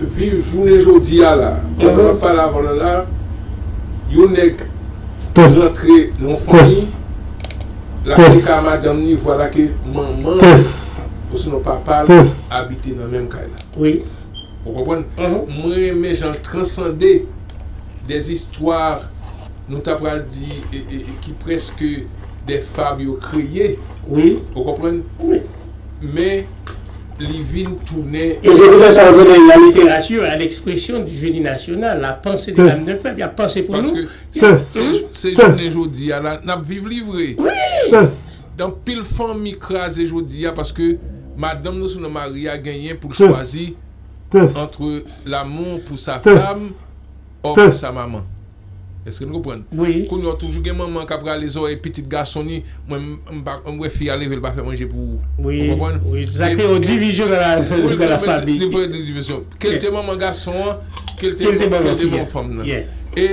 Viv jounen jodi a la. Pandan wap pale avan lan la, yon nèg rantre nan fanmi, lap te ka madanm ni vwala ke manman l osnon papa l abite nan menm kay la. Ou konprann? Mwen renmen jan l transande des histoires nou ta pral di ki preske des fables yo kreye. Ou konprann? men li vin tounen. E se pou tèt sa yo konnen la littérature a l'expression du génie national, la pensée de l'âme d'un peuple, y ap panse pou nou. Paske se jounen jodi a la n ap viv li vre. Anpil fanmi kraze jodi a paske madanm nan sou non mari a genyen pou l chwazi entre l'amour pour sa femme or pour sa maman. Eske nou konprann? Kounya w toujou gen manman k ap rale zòrèy pitit gason li, mwen m wè fi a leve l pa fè manje pou ou. Ou konprann? Wi, sa kreye yon divizyon nan la fanmi. Li kreye yon divizyon. Ke l te manman gason an, ke l te manman fanm nan. E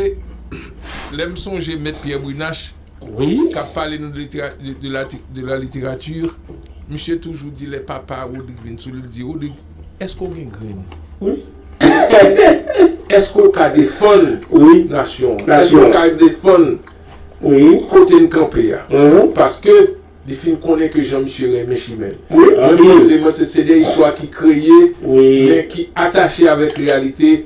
lè m sonje Mèt Pyè Brinash k ap pale nou de la literati, misye toujou di lè papa Rodrigue vin sou li, li di Rodrigue. Eske w gen grenn? Wi. Eske w ka defann nasyon an? Eske w ka defann kote n kanpe a? Paske li fin konnen ke jan misye renmen chimè l. Mwen panse se de istwa ki kreye men ki atache avèk reyalite.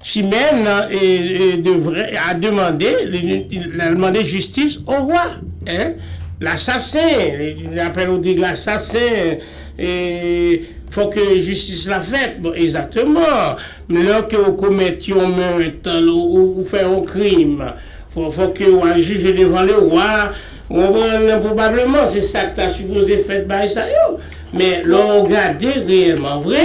Chimè nan devre a demande, lal mande jistis o roi. Hein? L'assassin, li apèl ou di l'assassin, fò ke jistis la fèt. Bon, egzakteman. Men lè ke ou komèt yon meurt, ou fè yon krim, fò ke ou al jije devan le roi, ou konprann? Pwobableman se sa ki ta sipoze fèt bagay sa yo. Men lè ou gade reyèlman vre.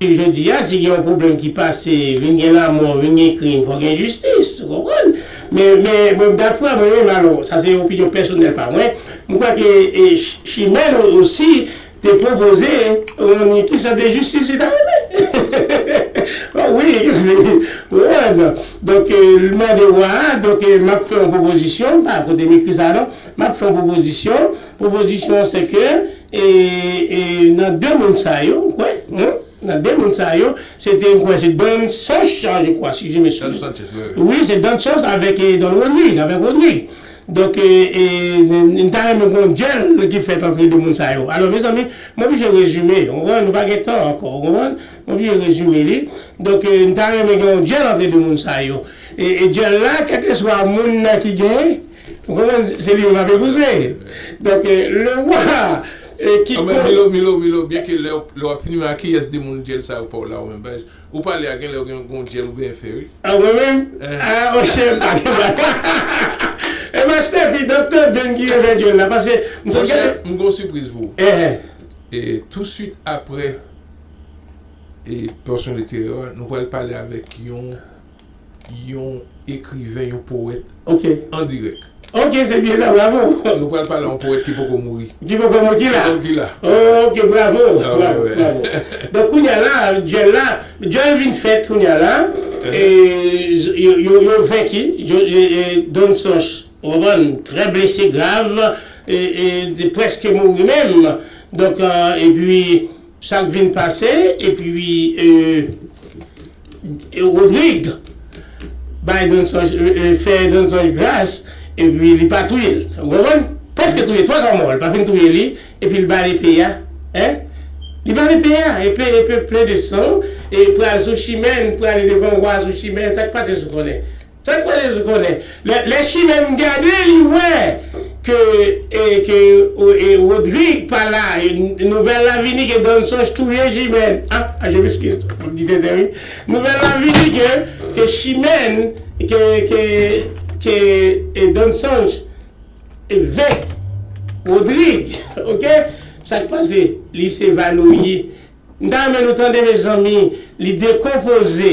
Jodi a si gen yon pwoblèm ki pase vin gen lamò, vin gen krim fò gen jistis ou konprann. Men mwen daprè mwen menm alò sa se opinyon pèsonèl pa mwen, mwen kwè ke chimè nou osi Te pwopoze yon ni ki sante jistis li ta renmen oh wi donk li mande wa a donk map fè yon pwopozisyon pa kote m ekri sa non map fè yon pwopozisyon pwopozisyon an se ke e nan de moun sa yo m kwè nan de moun sa yo se te m kwè se Don Sanch je kwa si je me souven wi se Don Sanch avèk Don Rodrigue avèk Rodrigue Donk m ta renmen gon dyèl ki fèt antre 2 moun sa yo. Alò mezanmi m oblije rezime ou konprann nou pa gen tan ankò ou konprann m oblije rezime li donk m ta renmen gen yon dyèl antre 2 moun sa yo e dyèl la kèlkeswa moun nan ki genyen ou konprann se li menm k ap epouze donk le wa ki. Milo milo milo byenke lè w ap fini men a kiyès 2 moun dyèl sa yo pa w la ou menm Ou pale a genlè ou gen gon dyèl ou byen fè wi. Ah mwen menm? Ah oh cheri mpa gen bal Hahaha Ebyen Stephy Doktè Vin ki refè dyol la paske m sot Monchè gade m gon sipriz pou ou Enhen. E tou swit aprè e pòsyon literè a nou pral pale avèk yon. yon ekriven, yon powèt an dirèk. Ok, se byen sa, bravo! Nou pral pale yon powèt ki poko mouri. Ki poko mouri, ki la? Ki la, ki la. Ok, bravo, bravo, bravo. Donk kounye a la, dyèl la, dyèl vin fèt kounye a la, e yo, yo venki, Don Sanch, ou konprann, trè blese grav, e, e, prèske mouri menm. Donk, epi, Sak vin pase epi wi euh Rodrigue bay Danzòj fè Danzòj gras epi li pa touye l ou konprann prèske touye twaka mò l pa fin touye li epi l ba l epe a hein li ba l epe a epe epe plen de san e pral sou chimè n prale devan wa sou chimè sak pase sou konnen. Tank pran Jezi konnen. Lè chimè m gade li wè ke ke Rodrigue pa la nouvèl la vini ke Don Songe touye chimè ah je m'excuse m ap di tenten wi nouvèl la vini ke ke chimè ke ke ke Don Songe venk Rodrigue ok sak pase li se vanouyi m ta renmen nou tande mezanmi li dekonpoze.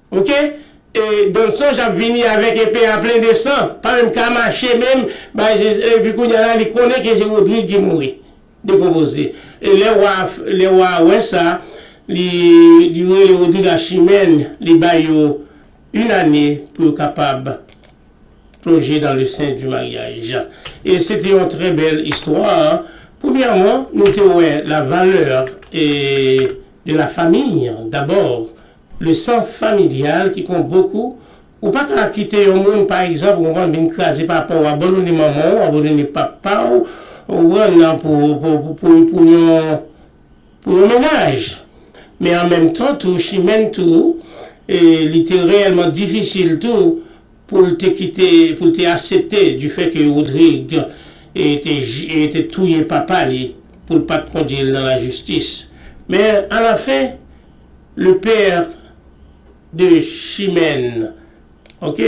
Ok Don sanch ap vini avèk epe a plen de san pa menm ka mache menm bay jezi epi kounya la li konnen ke se Rodrigue ki mouri dekonpoze e lè wa lè wa wè sa li li rele Rodrigue ak chimèn li bay yo yn ane pou yo kapab plonje dan le sen di maryaj e se te yon trè bèl istwa premyèman nou te wè la valè e de la famiy dabò Le sang familial ki kon bokou, ou pa ka kite yon moun pa egzanp ou konprann vin kraze papa w abandone manman w abandone papa w ou konprann pou yon pou yon mennaj men an menm tan tou chimèn tou li te reyèlman difisil tou pou l te kite pou l te asepte di fè ke Rodrig te touye papa li pou l pat kondye l nan lajistis men alafen. Le père de chimène ok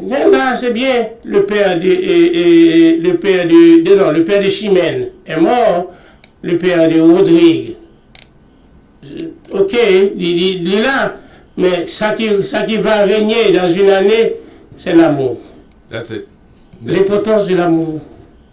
men la se byen le père de le père de de non le père de chimène est mort le père de Rodrigue ok li li li la men sa ki sa ki va renye dans une année c'est l'amour That's it. L'importance de l'amour.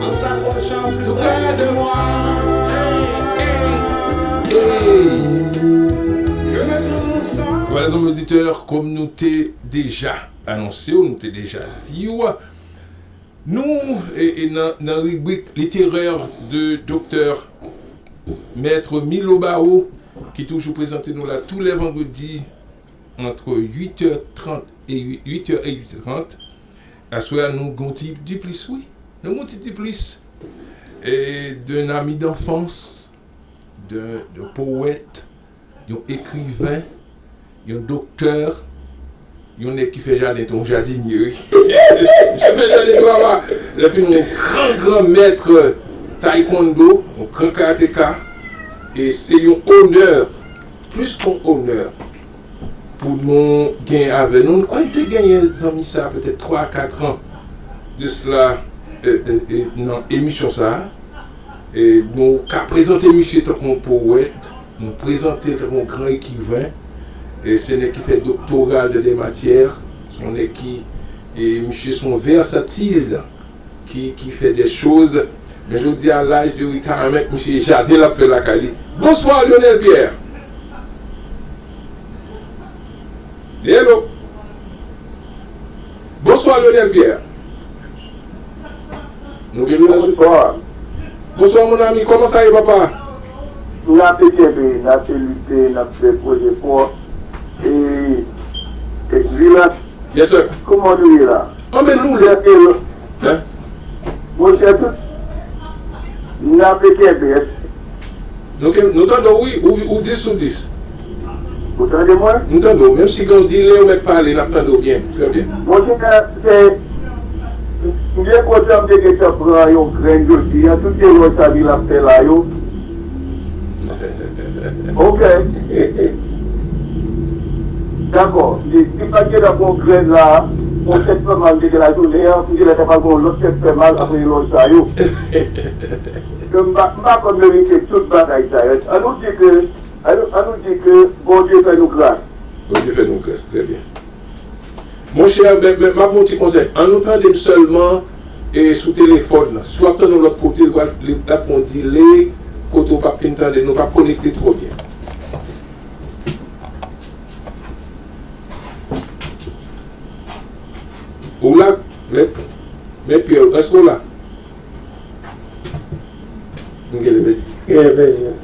En s'approchant plus près de moi, eh, eh, eh Je me trouve sans. Voilà zanmi auditeur, kòm nou te deja anonse w, nou te deja di w, nou nan ribrik literè de Doktè Maître Milo Barreau ki toujou prezante nou la tou lè vandredi antre 8 è 30 e 8 è 30. Aswè a nou gen yon ti diplis wi. Nou gen yon ti diplis d'un ami d'enfance, d'un poète, yon ekriven, yon doktè, yon nèg ki fè jaden tou, yon jadinye wi. Misye fè jaden tou apa lè fini yon gran gran maître taekwondo, yon gran karateka e se yon onè, plis ke yon onè. pou nou genyen avè nou. M kwè n te genyen zanmi sa a petèt twa a kat an de sla nan emisyon sa a. Nou ka prezante misye tankou yon powèt, nou prezante l tankou yon gran ekriven. Se yon nèg ki fè doktora l dan dè matyè, se yon nèg ki, misye se yon vèsatil ki ki fè des choses men jodi a l'âge de retirement misye jaden lap fè lakay li Bonsoir Lionel Pierre Hello Bonsoir Lionel Pierre Nou gen Lionel sou Bonsoir Bonsoir mon ami kòman sa ye papa? Na te kenbe, na te lite, nap fè gwo jefò e Vilas Yes sir. Kouman nou ye la? Anben doulè Pero hein monchè tout nape kenbe et. Nou kenbe nou tande w wi ou 10 sou 10. Ou tande mwen? Nou tande w menm si gen yon delay ou mèt pale nap tande w byen trè byen. Monchè se m byen kontan m te gentan pran yon grenn jodi an tout erè sa Vin ap fè la yo. Ok Dako li li pat gentan pran yon grenn la pou tèt fè mal li gen la jounen an pou genlè ta pral gen yon lòt tèt fè mal aprè elòj sa yo ke m pa m pa konn verite tout bagay sa yo an nou di ke an nou an nou di ke Bondye fè nou gras. Bondye fè nou gras trè byen monchè men map ba w ti konsèy an nou tande m sèlman. e sou telefòn nan. Si w ap tann yon lòt kote, li ap gen yon delay kote ou pap fin tande l, nou pap konekte twò byen. Ou la, mèt? Mèt Pyè, èske w la? Gen lè pèdi. Gen lè pèdi.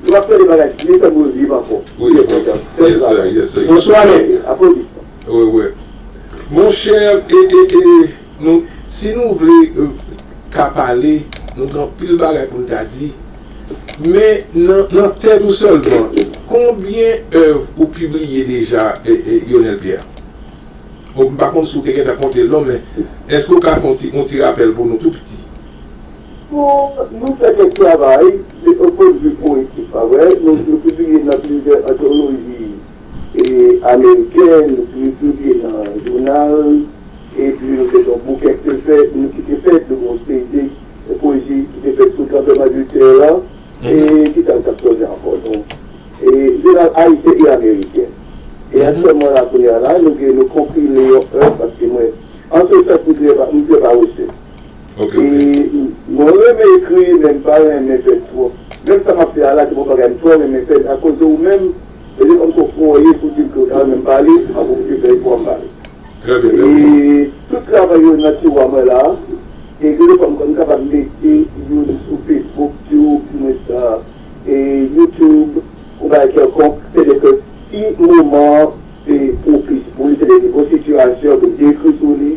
Nou ap tande bagay vye fè gwo driv ankò. Ou ye bon dam. Bel travay. Bonswa nèg. Aplodi. Wè wè. Monchè e e e nou si nou vle ka pale nou gen anpil bagay pou n ta di. Men nan nan tèt ou sèlman konbyen èv ou pibliye deja e e Yonel Pierre? Bon m pa konn si w te gentan konte l non men èske ou ka fè yon ti yon ti rapèl pou nou tou piti? Pou nou fè kèk travay, se yon pwen de vi powetik pa mwen, nou pibliye nan plizyè antoloji ameriken, nou pibliye nan jounal, epi nou fè yon bouke ki te fèt, nou ki te fèt, nou gen yon seri de pwezi ki te fèt sou tranbleman de tè a, e ki sa nou t ap sonje ankò non? E jounal ayisyen e ameriken. E aktyèlman la kounye a la, nou gen nou konpile yon èv paske mwen, an se sans, m trè pa wese. Mwen renmen ekri men m pa renmen fè l twòp. Menm sa m ap fè a la se bon bagay m twò renmen fè l akoz de ou menm e de kòmso fòye pou di m ke ou ta renmen m pale m ap oblije fè efò a m pale. Tout travay yo nan tiwa mwen la e gen de fwa m kapab mete youn sou Facebook, Tube, di mwens YouTube ou bagay kèlkonk se de ke si moman an pwopis pou li se de nouvo sitiyasyon ke m te ekri sou li.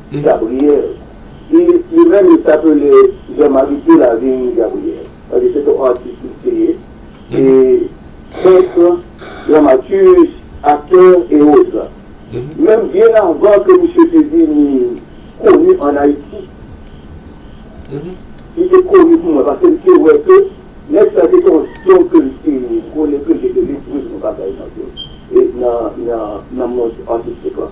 Gabriel e li menm li t apele Jean Marie Delavigne Gabriel paske se t on atis li te ye e peintre, dramaturge, acteur et autres menm byen avan ke misye te vini koni an Ayiti li te koni pou mwen paske li te wè ke nèg sa se t on don ke li te konnen ke li te gen pou l fè yon bagay nan nan mond atistik lan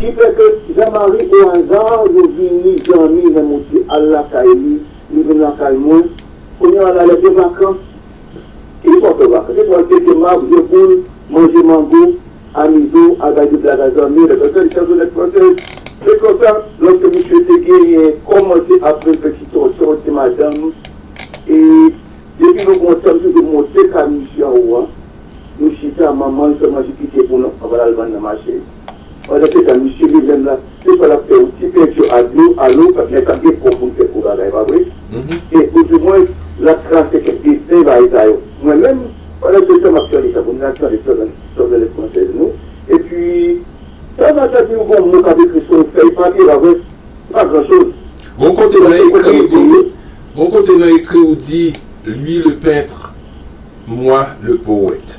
Ki fè ke Jean Marie au hasard yo vini dòmi lè mwen te al lakay li, li vin lakay mwen, kounye a la lè de vakans, ki fè w fè vakans? Se pou w al pete mab, jwe boul, manje mango, amize w, al bay deblag a zanmi w, lè fè frèt, chanzonèt fransèz. Se konsa, lòske misye te genyen, kòmanse ap vin fè ti tòtò, ti madanm, e depi nou gon tan m toujou monte kay misye anwo a, nou chita, manman l fè manje pike pou nou anvan l al vann nan mache. Pandan se tan misye li menm la se swa lap fè yon ti peinture a dlo a lo paske nèg sa gen kò poul fè gwo bagay pa vre e ou di mwen lap trase kèk dessin bagay sa yo mwen menm pandan se tan map tande sa bon nan tande tanzanèt française nou epi tan nan tan di m gon mo kap ekri sou yon fèy papye pa vre se pa gran choz Gon kote nan ekri gon kote nan ekri ou di lui le peintre moi le poète.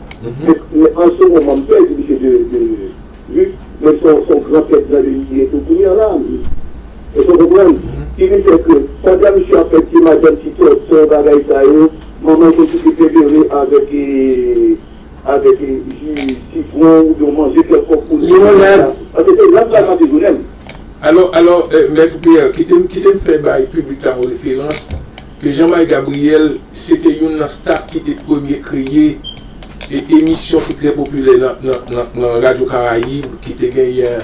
Men an se moman m pè di misye de vi men se yon gran tèt grande li ye tou kounye an la èske w konprann ki vin fè ke pandan misye ap fè ti madanm ti tòtò bagay sa yo manman l te kite pepere avèk avèk ji sitwon ou byen manje kèlkonk pou li paske se la m pral pase jounen m. Alò, alò, Mèt Pierre, kite m kite m fè bay piblik la yon referans. ke Jean-Mike Gabriel se te youn nan staf ki te premye kreye e emisyon ki trè popilè nan Radyo Karayib ki te genyen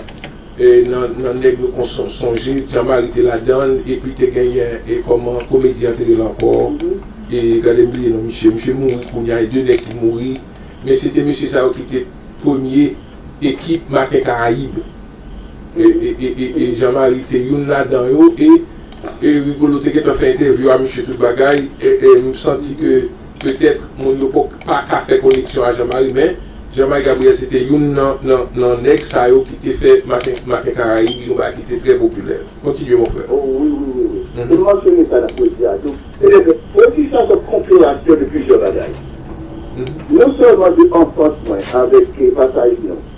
nan nèg nou kon sonje Jean Mary te ladann epi te genyen e kòman komedyen an te rele ankò e gade m bliye non misye misye mouri kounye a e 2 nèg ki mouri men se te mesye sa yo ki te premye ekip Maten Karayib. e Jean Marie te youn ladan yo e Rigolo te gentan fè entèvyou a misye tout bagay e m santi ke petèt moun yo paka fè koneksyon a Jean Marie men Jean Marie Gabriel se te youn nan nèg sa yo ki te fè maten karayib yon bagay ki te trè popilè kontinye mon frè. O wi wi wi wi e m mansyone sa nan pwezi a tou se te ke pwezi sa se yon konpilasyon de plizyè bagay non sèlman de anfans mwen avèk pasaj nou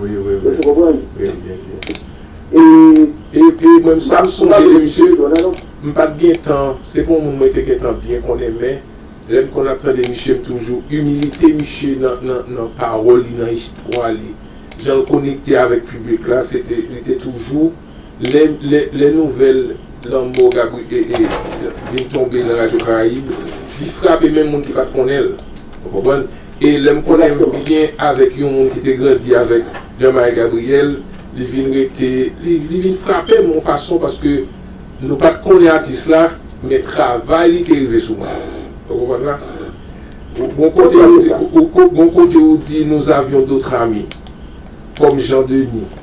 Wi wi wi. Èske w konprann? Wi wi wi. E. E e mwen m sa m sonje de misye, m pa t gen tan, se pa yon moun mwen te gen tan byen konnen men, lè m konn ap tande misye m toujou, imilite misye nan nan nan pawòl li, nan istwa li, jan l konekte avèk piblik la, se te, li te toujou. Lè nouvèl lanmò Gabriel vin tonbe nan Radyo Karayib, li frape menm moun ki pa t konnen l. Ou konprann? E lè m konnen byen avèk yon moun ki te grandi avèk Jean-Marie Gabriel, li vin rete, li vin frape m yon fason paske nou pa t konnen atis la, men travay li te rive sou mwen. Ou konprann la? Gon kote ou di nous avions d'autres amis, kòm Jean Denis.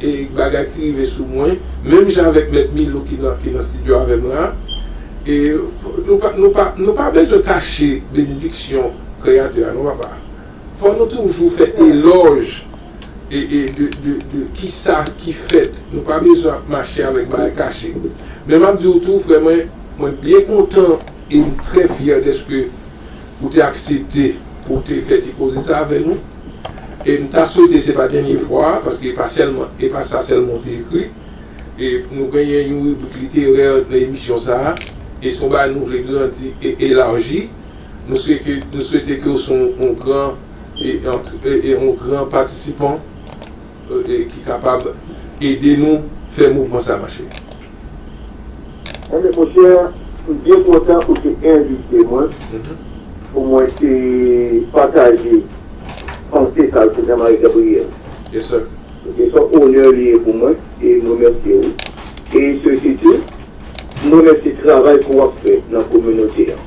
e bagay ki rive sou mwen menm jan avèk mèt Milou ki nan ki nan studio avèm la e nou pa nou pa nou pa bezwen kache benediksyon kreyatè a non papa fò nou toujou fè elòj e e de de de kisa ki fèt nou pa bezwen ap mache avèk bagay kache men map diw tou frè mwen mwen byen kontan em trè fyè dèske ou te aksepte pou te fè ti koze sa avè nou. e m ta swete se pa dènye fwa a paske e pa sa sèlman ou te ekri. E nou genyen yon ribrik literè nan emisyon sa a e se yon bagay nou vle grandi e elaji. Nou swete nou swete ke ou se yon gran e yon gran patisipan. ki kapab ede nou fè mouvman sa mache. Ebyen monchè m byen kontan ou te envite mwen pou mwen te pataje panse sa yo sou Jean Marie Gabriel. Yes sir. Se yon onè li ye pou mwen e m remèsye ou e se sitou m remèsye travay ke w ap fè nan kominote an.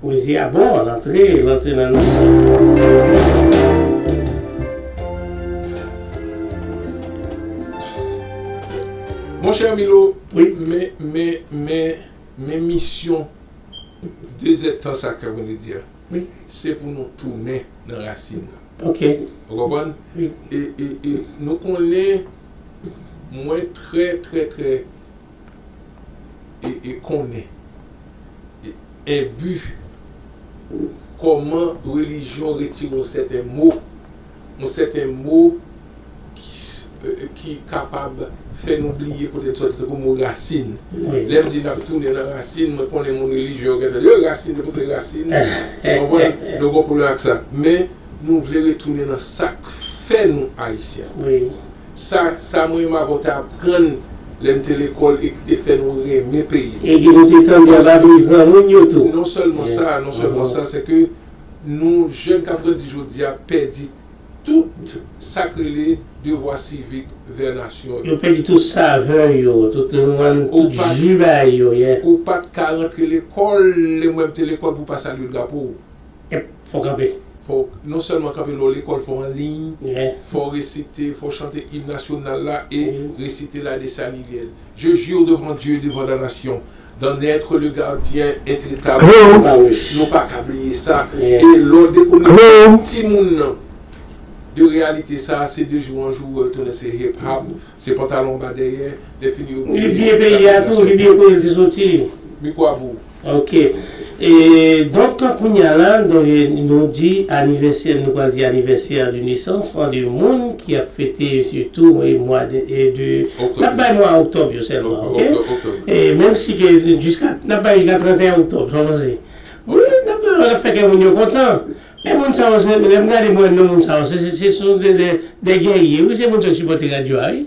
Pwezi a bon, l antre, l antre nan nanm mwen. Monchè Milo, men, men, men, men misyon dezètan sa k ap vini di a, se pou nou tounen nan rasin nan. Ok. Ou konprann? E, e, e, nou konnen mwen trè, trè, trè e konnen e enbi kòman relijyon retire yon sèten mo, yon sèten mo ki kapab fè nou bliye kote n sòti. Tankou mo rasin. Lè m di n ap tounen nan rasin, mwen konnen moun relijyon yo gen tan di, Ey rasin, yo kote rasin? Ou konprann? Nou gon pwoblèm ak sa. Men, nou vle retounen nan sa k fè nou Ayisyen. Sa sa m renmen avè w te aprann lè n te lekòl e ki te fè nou renmen peyi n. Epi nou te tande a babri granmoun yo tou. Non sèlman sa, non sèlman sa, se ke nou jèn k ap grandi jodi a pèdi tout sa k rele devwa sivik vè nasyon yo. Yo pèdi tout savè yo, tout rinwann, tout ju bay yo, yeah. Ou pa t ka rantre lekòl lè mwen m te lekòl pou w pa salye drapo w. Ep fò w kanpe. Fò w non sèlman kanpe lè w lekòl, fò w an liy, fò w resite, fò w chante im nasyonal la e resite la Dessalilienne. Je jure devant Dieu et devant la nation d'en être le gardien intretable de la paix. Nou pa ka bliye sa. E lè w dekonekte yon timoun nan de reyalite sa a, se de jou an jou ou wè yo tounen se hip hop, se pantalon anba dèyè, lè fini yo bliye. Li bliye peyi a tou, li bliye kote l te soti. Mikwo a pou ou. Ok e donk kounya la nou di anivèsè nou pral di anivèsè an de nesans an de moun ki ap fete sitou mwa de nap bay mwa oktòb yo sèlman ok e menm si ke jiska nap bay jiska 31 oktòb sa w panse wi nap bay nap fè kè moun yo kontan e moun sa yo se lè m gade m wè non moun sa yo se se se se sou de gèrye wi se moun sa yo ki sipòte radyo a wi.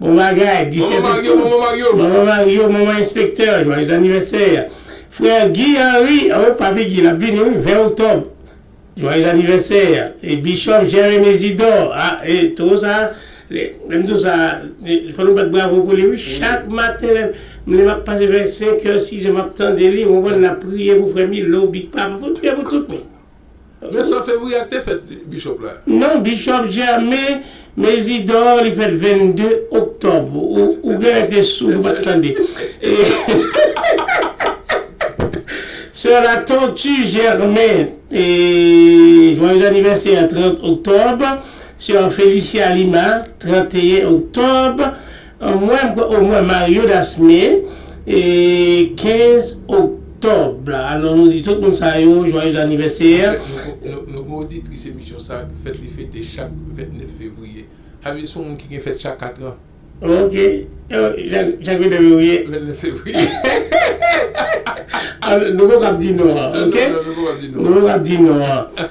Bon bagay, Manman Disète Mario, tout, Manman Mario. Manman Mario, Manman Enspektè, Jwayez Anivèsè, Frè Guy Henri, oh Papi Guy lap vini wi 20 Oktòb, Jwayez Anivèsè, e Bishop Germain Mesidor, ah e Towo sa, lèm di w sa, fò nou bat bravo pou li wi, chak maten lè map pase vè 5 è 6 è map tande li ou konprann lap priye pou frè Milo, Big Papa, fò nou priye pou tout moun. Vincent Févriac te fèt Bishop la? Non Bishop Germain Mésidor li fèt 22 Oktòb ou genlè te soud ou pat tande Soeur Latortue Germain Joyeux anniversaire 30 Oktòb Soeur Félicia Lima 31 Oktòb Anmwey oh mwen Mario Dasme 15 Oktòb alò nou di tout moun sa yo Joyeux Anniversaire. Nou gen oditris emisyon sa ki fèt li fete chak 29 Fevriye Xavier son moun ki gen fèt chak 4 an. Ok chak 29 Fevriye. 29 Fevriye. Nou poko ap di non an ok. Non nou poko ap di non an.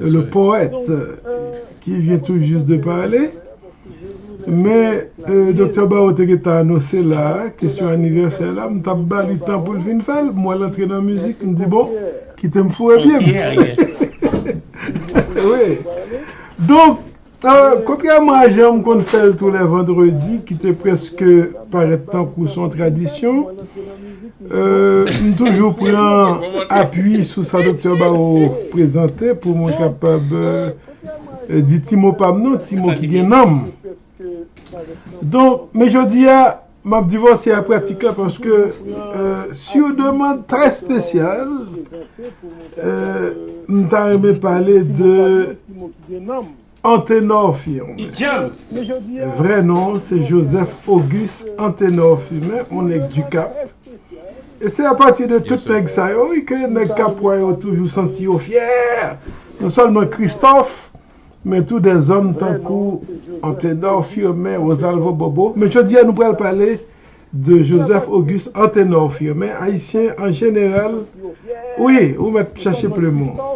le poète ki vyen tou jis de pale, men Doktè Barreau te gen tan anonse la, kesyon anivèsè la, m t ap ba li tan pou l fin fè l, m wè l antre nan mizik, m di bon, kite m foure pye m. Donk, Kontrèman a jan m konn fè l tou lè vandredi ki te prèske parèt tankou s on tradisyon, m toujou pran apui sou sa Doktè Baro prezante pou mwen kapab di ti mo pa m nan, ti mo ki gen nanm. Donk, men jodi a, Map divòse a pratik la paske sur demande très spécial m ta renmen pale de Anténor Firmin vrai nom se Joseph Auguste Anténor Firmin on nèg du Cap et c'est à partir de tout nèg sa yo wi ke nèg Capois yo toujou santi yo fière non seulement Christophe Men tou de zòm tankou Antenor Firmin, Rosalvo Bobo. Men jodi a nou pral pale de Joseph Auguste Antenor Firmin, Ayisyen an jeneral, wi, ou mèt chache plim ou.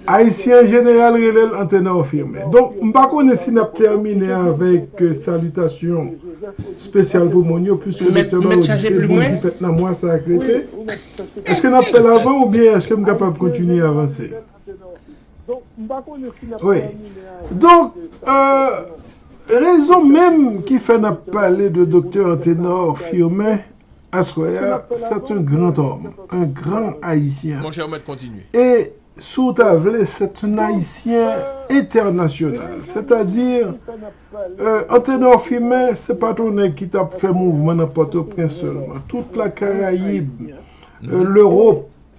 Ayisyen an jeneral rele l Antenor Firmin. Donk, m pa konnen si n ap tèmine avèk salitasyon spesyal pou moun yo, pwiske Doktè Barreau di se bonjou fèt nan mwa sa a k rete. Èske n ap fè l avan oubyen èske m kapab kontinye avanse? Wi. Donk, rezon menm ki fè n ap pale de Doktè Anténor Firmin aswè a, c'est un grand homme, un grand Haïtien. E, si w ta vle, c'est un Haïtien international. Sètadi, Anténor Firmin se pa t yon nèg ki t ap fè mouvman nan Pòtoprens sèlman. Tout la Caraïbe, l'Europe.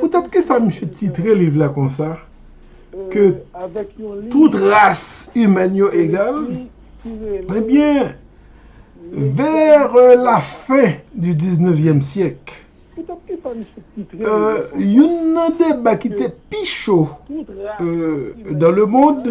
Poutèt ki sa misye titre liv la konsa, Ke tout ras imèn yo egal? Ebyen, vèr la fen di diznevyèm syèk, youn nan deba ki te pi cho dan lemond,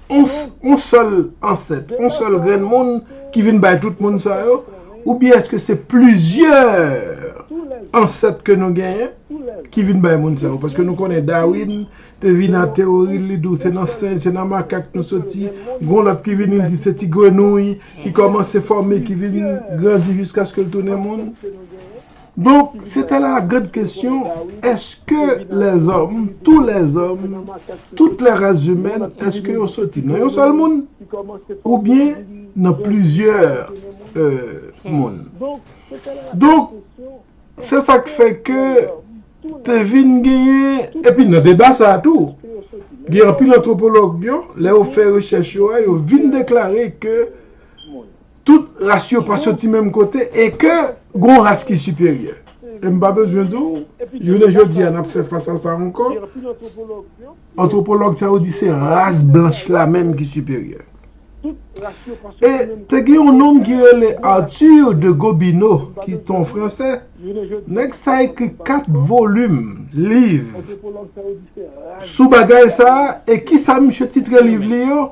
yon sèl ansèt, yon sèl grenn moun ki vin bay tout moun sa yo, oubyen èske se plizyè ansèt ke nou genyen ki vin bay moun sa yo? Paske nou konnen Darwin te vin ak teyori l, li di w se nan senj, se nan makak nou soti, gen yon lòt ki vini l di se ti grenouy ki kòmanse fòme, ki vin grandi jiskaske l tounen moun. Donk, se te la grand kesyon, eske lèzòm, tou lèzòm, tout lè ras zimèn, eske yo soti nan yon sèl moun, oubyen nan plizyè moun? Donk, se sa k fè ke te vin genyen, epi nan deba sa a tou, gen anpil antwopològ yo, lè yo fè rechèch yo a, yo vin deklare ke, Tout ras yo pa soti menm kote e ke gon ras ki siperyè. E m pa bezwen di w, jounen jodi a n ap fè fas a sa ankò, antwopològ sa yo di se ras blanch la menm ki siperyè. E te gen yon nonm ki rele Arthur de Gobineau ki te yon fransè, nèg sa ekri 4 volim liv sou bagay sa a e kisa misye titre liv li yo?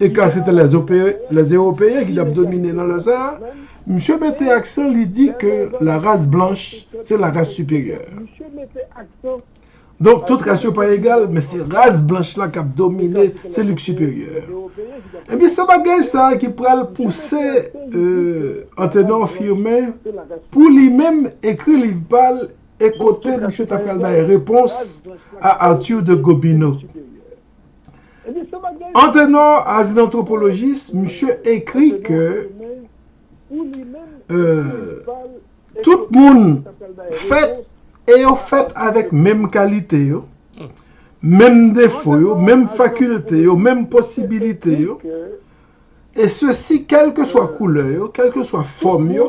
e ka se te les ewopeyen ki tap domine nan lè sa a, misye mete aksan li di ke la ras blanch se la ras siperyè. Donk tout ras yo pa egal men se ras blanch la kap domine se li ki siperyè. Ebyen se bagay sa a ki pral pouse Antenor Firmin pou li menm ekri liv pa l e kote misye ta pral bay repons a Arthur de Gobineau. Antenor as an antropolojis, misye ekri ke tout moun fèt e yo fèt avèk menm kalite yo, menm defo yo, menm fakilte yo, menm posibilite yo, e sesi kèlkeswa koulè yo, kèlkeswa fòm yo.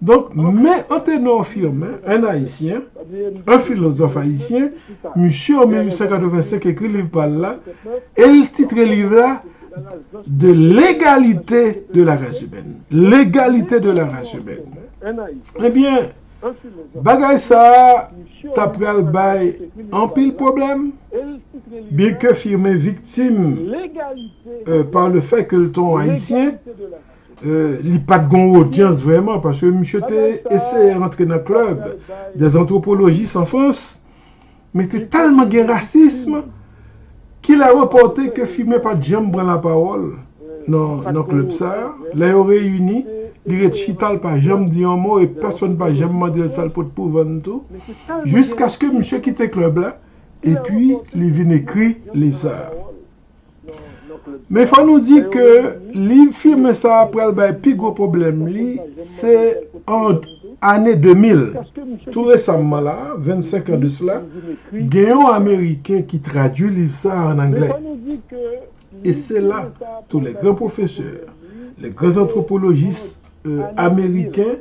Donk, Me Anténor Firmin, un Ayisyen, un philosophe ayisyen, misye an 1885 ekri liv pa l la, e l titre liv la De l'égalité de la race humaine, L'égalité de la race humaine. Ebyen, bagay sa a t ap pral bay anpil pwoblèm, byenke Firmin viktim pa le fè ke l t on Ayisyen, Li pa t gon odyans vrèman paske misye te eseye rantre nan club des anthropologistes en France men te tèlman gen rasism ki lè repòte ke Fimen pa t janm pran lapawòl nan club sa lè yo reyini li ret chita l pa janm di yon mo e pèsonn pa janm mande l sa l pot pou vann tou jiskaske misye kite club la epi li vin ekri liv sa. Men fò nou di ke li firme sa pral bay pi gwo pwoblèm li se an ane 2000 tou resamman la 25 an de sla gen yon ameriken ki tradui liv sa an anglè e se la tou lè gran pwofesè lè gran antwopolojis ameriken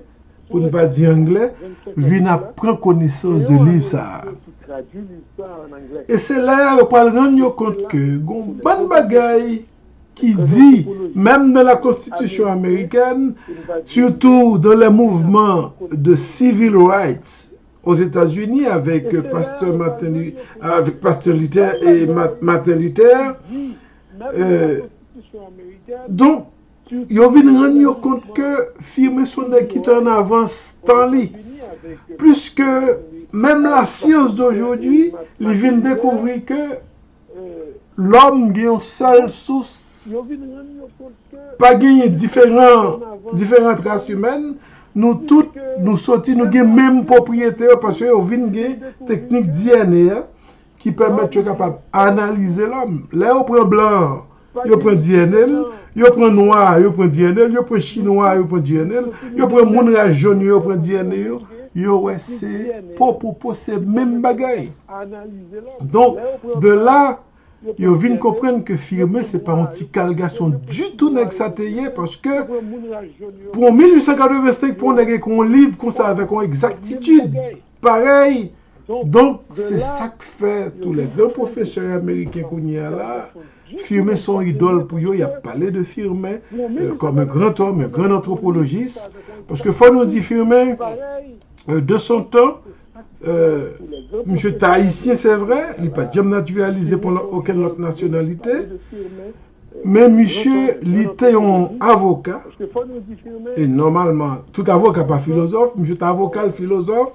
pou n pa di anglè, vin ap pran konesans de liv sa a. E se lè a yo pral rann yo kont ke gen yon bann bagay ki di, menm nan la konstitisyon amerikèn, sitou dan le mouvman de sivil rights ozetazini avèk pastè Maten, avèk pastè Luther e Maten Luther, donk, Yo vin rann yo kont ke Firmin son nèg ki te an avans tan li, pliske menm la science d'aujourd'hui li vin dekouvri ke lòm gen yon sèl sous, pa genyen diferan diferant ras imèn, nou tout nou soti nou gen menm pwopriyete yo paske yo vin gen teknik DNA a. ki pèmèt yo kapab analize lòm. Lè yo pran blan an, yo pran DNA l, yo pran nwa a, yo pran DNA l, yo pran chinwa a, yo pran DNA l, yo pran moun ras jòn yo, yo pran DNA yo, yo wè se po pou po, se menm bagay. Donk, de la, yo vin konprann ke Firmin se pa yon ti kal gason ditou nèg sa te ye, paske pou 1885 pou yon nèg ekri yon liv konsa avèk yon egzaktitid, Parèy, donk se sa k fè tou lè gran pwofesè ameriken kounye a la, Firmin se yon idòl pou yo, y ap pale de Firmin kòm un grand homme, un grand anthropologiste, paske fò nou di Firmin, de son tan, misye te ayisyen se vre, li pa t janm natiralize pran okenn lòt nasyonalite, Men misye li te yon avoka, e nòmalman tout avoka pa filozòf, misye te avoka, l filozòf,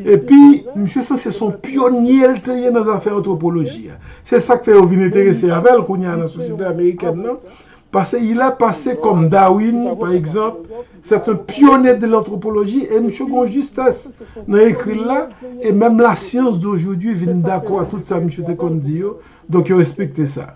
epi misye sanse se yon pyonye l te ye nan zafè antwopoloji a. Se sa k fè yo vin enterese avè l kounye a nan sosyete amerikèn nan, pase il a pase kòm Darwin pa egzanp, sèt un pyone de lantwopoloji, e misye gen yon jistès nan ekri l la, e menm la science d'aujourd'hui vin dakò a tout sa misye te konn di yo, donk yo respekte sa.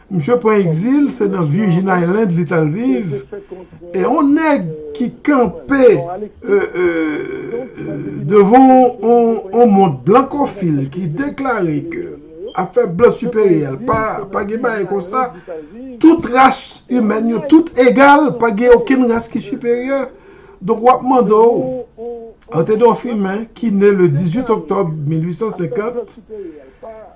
Misye pran egzil, se nan Virgin Island li tal viv, e yon nèg ki kanpe devan yon mond blankofil ki deklare ke afè blan siperyal pa gen bagay konsa, tout ras imèn yo tout egal, pa gen okenn ras ki siperyè. Donk wap mande w, Anténor Firmin ki ne le 18 oktòb 1850,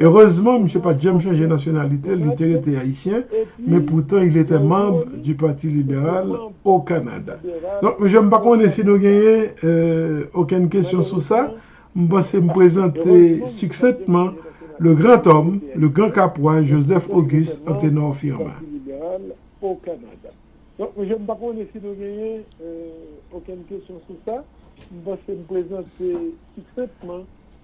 Erezman, misye pa t janm chanje nasyonalite l, li te rete Ayisyen, men poutan il etait manb du Parti Liberal au Canada. Donk, mesye, m pa konnen si nou genyen okenn kesyon sou sa. M panse m prezante siksentman le grand homme, le grand Capois, Joseph Auguste Anténor Firmin.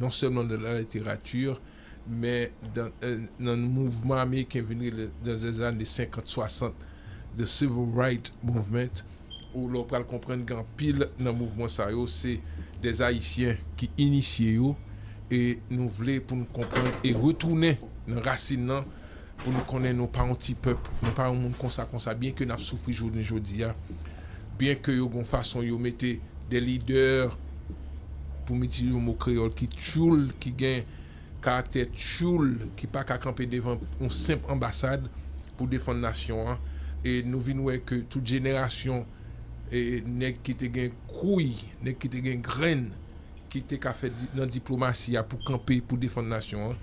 non sèlman nan laliterati, men nan mouvman ameriken vin rele nan zèzane senkant, swasant, The Civil Right Movement, ou lè w pral konprann gen anpil nan mouvman sa yo se dè Ayisyen ki inisye yo, e nou vle pou n konprann e retounen nan rasin nan pou nou konnen nou pa yon ti pèp, nou pa yon moun konsa konsa, byen ke nap soufri jounen jodi a, byen ke yo gon fason yo mete de lidè, pou m itilize yon mo kreyòl ki tchoul, ki gen karaktè tchoul, ki pa ka kanpe devan yon senp anbasad pou defann nasyon an, e nou vin wè ke tout jenerasyon nèg ki te gen kouy, nèg ki te gen grenn, ki te ka fè nan diplomasi a pou kanpe pou defann nasyon an,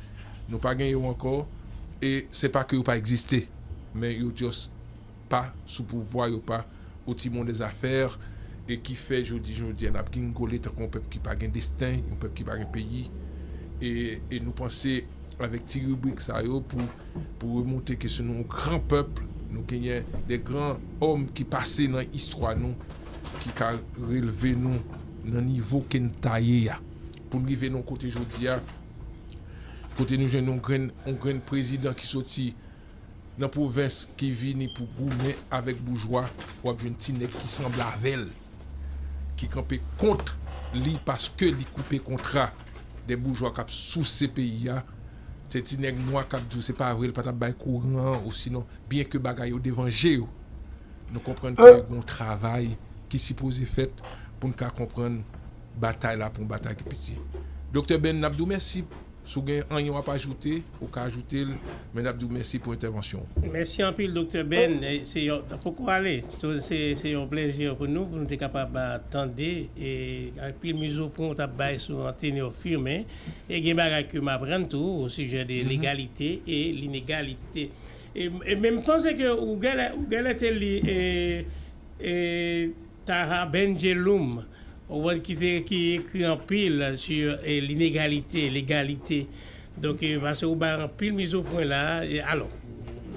nou pa gen yo ankò e se pa ke yo pa egziste men yo just pa sou pouvwa, yo pa au timon des affaires e ki fè jodi jodi a nap gingole tankou yon pèp ki pa gen desten, yon pèp ki pa gen peyi e nou panse avèk ti ribrik sa yo pou pou remonte ke se nou yon gran pèp, nou genyen de gran homme ki pase nan istwa nou ki ka relve nou. nan nivo ke n ta ye a, pou n rive nan kote jodi a, kote nou jwenn yon grenn, yon grenn prezidan ki soti nan pwovens, ki vini pou goumen avèk boujwa, w ap jwenn ti nèg ki sanble avè l, ki kanpe kont li paske li koupe kontra de boujwa k ap souse peyi a, se ti nèg nwa k ap di w se pa vre l pa t ap bay kouran an osinon, byenke bagay yo devan je yo. Nou konprann ke gen yon travay ki sipoze fèt pou n ka konprann batay la pou yon batay ki piti. Doktè Ben, n ap di w mèsi. Si w gen anyen w ap ajoute, ou ka ajoute l, men n ap di w mèsi pou entèvansyon w. Mèsi anpil Doktè Ben. Se yon, nan poko ale. Se yon plèzi pou nou, pou nou te kapab tande e anpil mizopwen w t ap bay sou Antenor Firmin. E gen bagay ke m aprann tou osijè de legalite e linegalite. E men m panse ke ou genlè te li Taha Bendjelloum ki ekri anpil sur l'inégalité, l'égalité donk pase ou bay anpil mizopwen la alò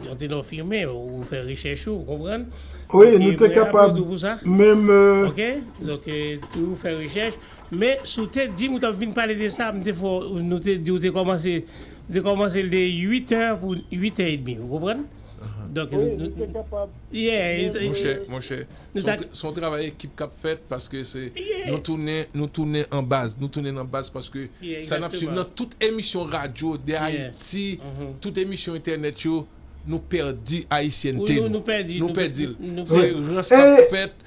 Jean Ténor Firmin ou fè rechèch ou konprann wi nou te kapab menm ok donk ou fè rechèch men si w te di m ou t ap vin pale de sa m te fè w nou te di w te kòmanse Li te kòmanse li te 8 è pou 8 è edmi ou konprann donk nou Wi li te kapab Yeah Monchè monchè se yon travay ekip k ap fèt paske se nou tounen nou tounen an baz nou tounen nan baz paske sa n ap swiv nan tout emisyon radyo de Ayiti tout emisyon entènèt yo nou pèdi ayisyènte nou nou pèdi l se rans k ap fèt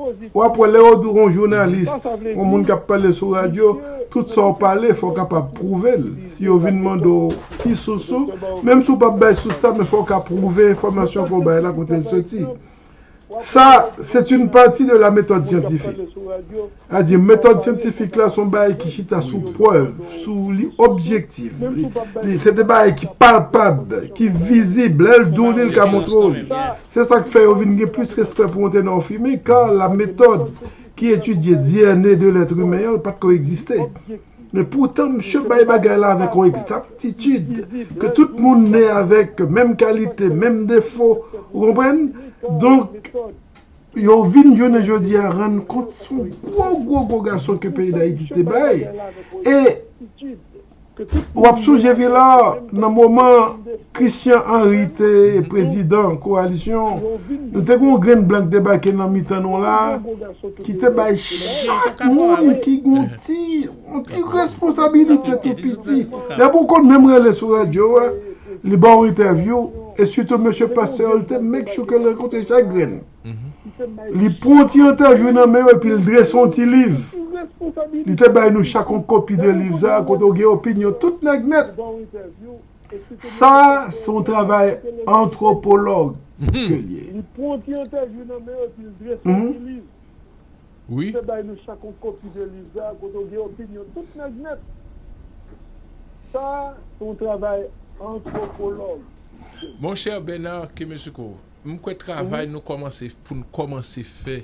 Ou ap wè lè yo di w on jounalis, on moun k ap pale sou radyo, tout sa w pale fò w kapab pwouve l. Si yo vin mande w ki sous ou, menm si w pa p bay sous la men fò w ka pwouve enfòmasyon ke w bay la kote l soti. Sa, c'est une partie de la méthode scientifique. A di, metòd syantifik la se yon bagay ki chita sou prèv, sou li objektif, li se de bagay ki palpab, ki vizib, lè l di w li l ka montre w li. Se sa k fè yo vin gen plis respè pou yon tenò fimen, ka la metòd ki etidye DNA de lèt imen an pa t ko egziste. Men poutan misye bay bagay la avèk yon egzatitid ke tout moun ne avèk menm kalite, menm defo, ou konprann? Donk, yo vin jounen jodi a rann kont s on gwo gwo gwo gason ke peyi Dayiti te bay e Ou ap sonje Villar nan moman Christian Henry te prezidan kowalisyon, nou te gen yon grenn blan ki debake nan mitan nou la, ki te bay chak moun ki gen yon ti responsabilite tou piti. Depi ou konn menm rele sou radyo a, li ba w entèvyou, e sitou mesye Pasteur, li te make sure ke l rankontre chak grenn. Li pran ti entèvyou nan men yo epi l drese yon ti liv. Li te bay nou chak yon kopi de liv sa a kote w gen opinyon tout nèg nèt. Sa a se yon travay antwopològ ke l ye. Monchè Bernard Kemesouko, M kwè travay nou kòmanse pou n kòmanse fè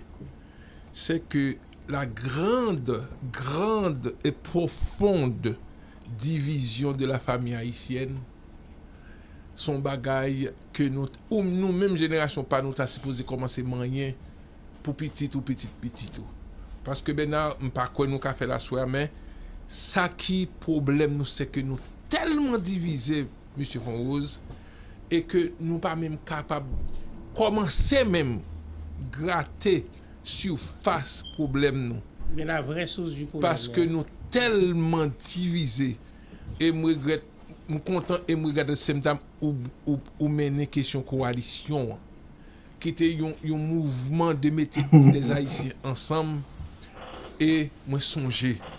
se ke la grand grand et profonde division de la famille haïtienne s on bagay ke nou ou nou menm jenerasyon pa nou ta sipoze kòmanse manyen pou pitit ou pitit pitit ou paske Bernard m pa kwè nou ka fè l aswè a men sa ki pwoblèm nou se ke nou tèlman divize Mesye Fonrose e ke nou pa menm kapab kòmanse menm grate sifas pwoblèm nou, paske nou tèlman divize, e m regrèt, m kontan e m regrèt atdestemtam ou mennen kesyon kowalisyon an, ki te yon mouvman de mete dèzayisyen ansanm, e mwen sonje.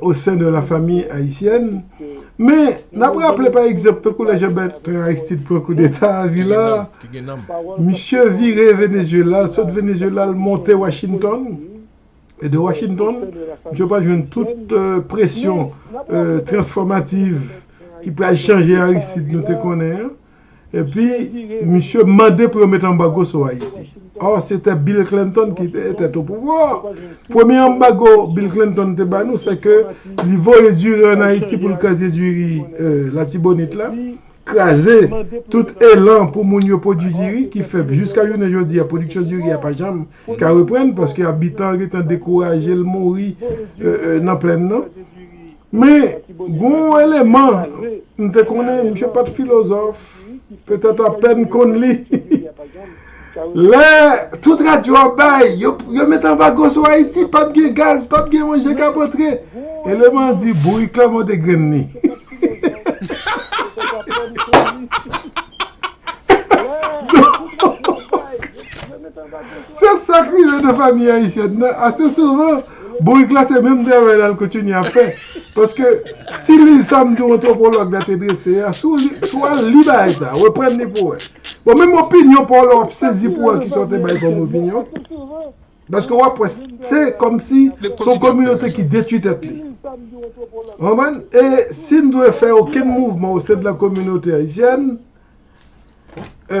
osen de la famiy ayisyèn. Men, n ap raple pa egzanp tankou lè Jan Bètran Aristid pran koudeta a Vila, misye vire Venezuela, l sot Venezuela l monte Washington, e de Washington, misye pral jwenn tout presyon transfòmativ ki pral chanje Aristid nou te konnen an. Epi misye mande pou yo met anbago sou Ayiti. Or se te Bill Clinton ki te etet o pouvwa. Premye anbago Bill Clinton te ba nou se ke li voye diri an Ayiti pou l kraze diri Latibonit la, kraze tout elan pou moun yo pwodui diri ki fè jiska jounen jodi a pwodiksyon diri a pa janm ka reprann paske abitan yo gen tan dekouraje l mouri nan plenn nan. Men, g'on w eleman, m te konnen misye pa t filozòf, petèt apèn konn li. Lè tout radyo ap bay, yo met anbago sou Ayiti, pa p gen gaz, pa p gen manje k ap antre, eleman an di, bourik la monte grenn li. Se sa k rive nan fanmi ayisyèn nan ase souvan. Bourik la se menm travay la l kontinye ap fè. Paske, ti liv sa m di w antwopològ la te drese a, si w al li bagay sa, reprann li pou w wè. Bon, menm opinyon pa w la w ap sezi pou w wè kisa w te bay kòm opinyon. Paske w ap wè, se kòmsi se yon kominote ki detwi tèt li. Ou konprann? E si n dwe fè okenn mouvman osèdlan kominote ayisyèn, e.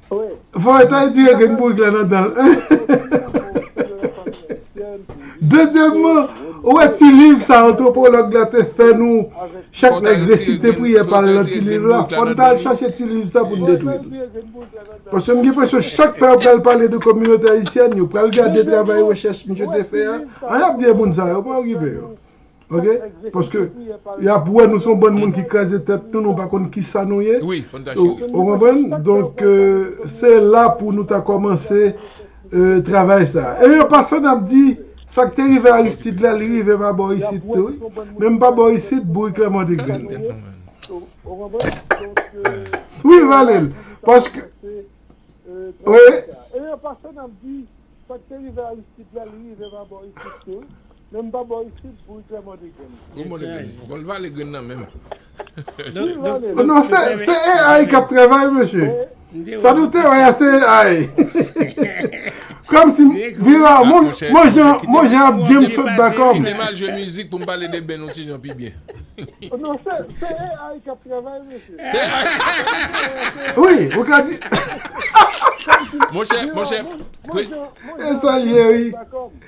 Voye tay dire gen bourik la nan danl. Dezyèmman, ou wè ti liv sa antwopològ la te fè nou, chak nèg resite priyè pa l nan ti liv la, fò n ta al chache ti liv sa pou n detwi l. Paske m gen enpresyon chak fwa yo pral pale de kominote ayisyèn, yo pral gade travay rechèch misye te fè a, an y ap di e moun sa yo, pa okipe yo. Ok paske yap wè nou son bann moun ki kraze tèt nou nou pa konn kisa nou ye ou konprann donk se la pou nou ta kòmanse travay sa e an pasan nap di sak te rive Aristide la li rive pa bò isit tou wi menm pa bò isit bourik la mòde grenn wi valel paske wi. Menm pa bò isit pou ikren mòde grenn. Pou mòde grenn. Bon l vale grenn nan menm. Li vale l. Non se AI kap travay mesye. Sa nou te wè a se AI. Kòm si vira mon jan mon jan ap djem sot dakò. Kite m al jwe mizik pou m pale de Ben yon ti jan pi byen. Non se AI kap travay mesye. Se AI. Wi ou ka di. Monchè monchè. Mon jan mon jan ap djem sot dakò.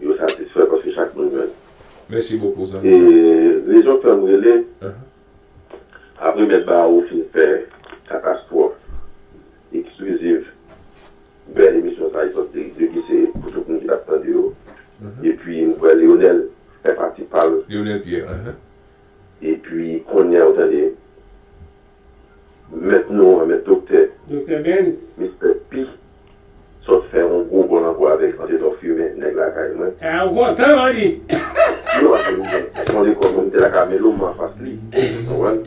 Yo satisfè paske chak moun jwenn. Mèsi bokou zanmi pam. E rezon k fèm rele apre mèt Bawo fin fè katastwòf ekskliziv bèl emisyon sa li sot depi se pou tout moun ki tap tande yo epi m kwè Leonel fè pati pal Leonel Pierre epi kounya ou tande Mèt nou an, mèt doktè. Doktè Ben. Mistè P. Sot fè yon gwo gòl ankò avèk Antenò Fimen, nèg lakay mwen. A, ou kontan, man di. Ti Nwa se yon son lekòl mwen mete lakay Melo, m anfas li. Ou konprann?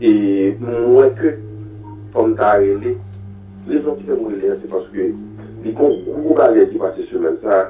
E m wè ke fò m ta rele. Rezon ki fè m rele an se paske li gen yon gwo bagay ki pase semèn sa a.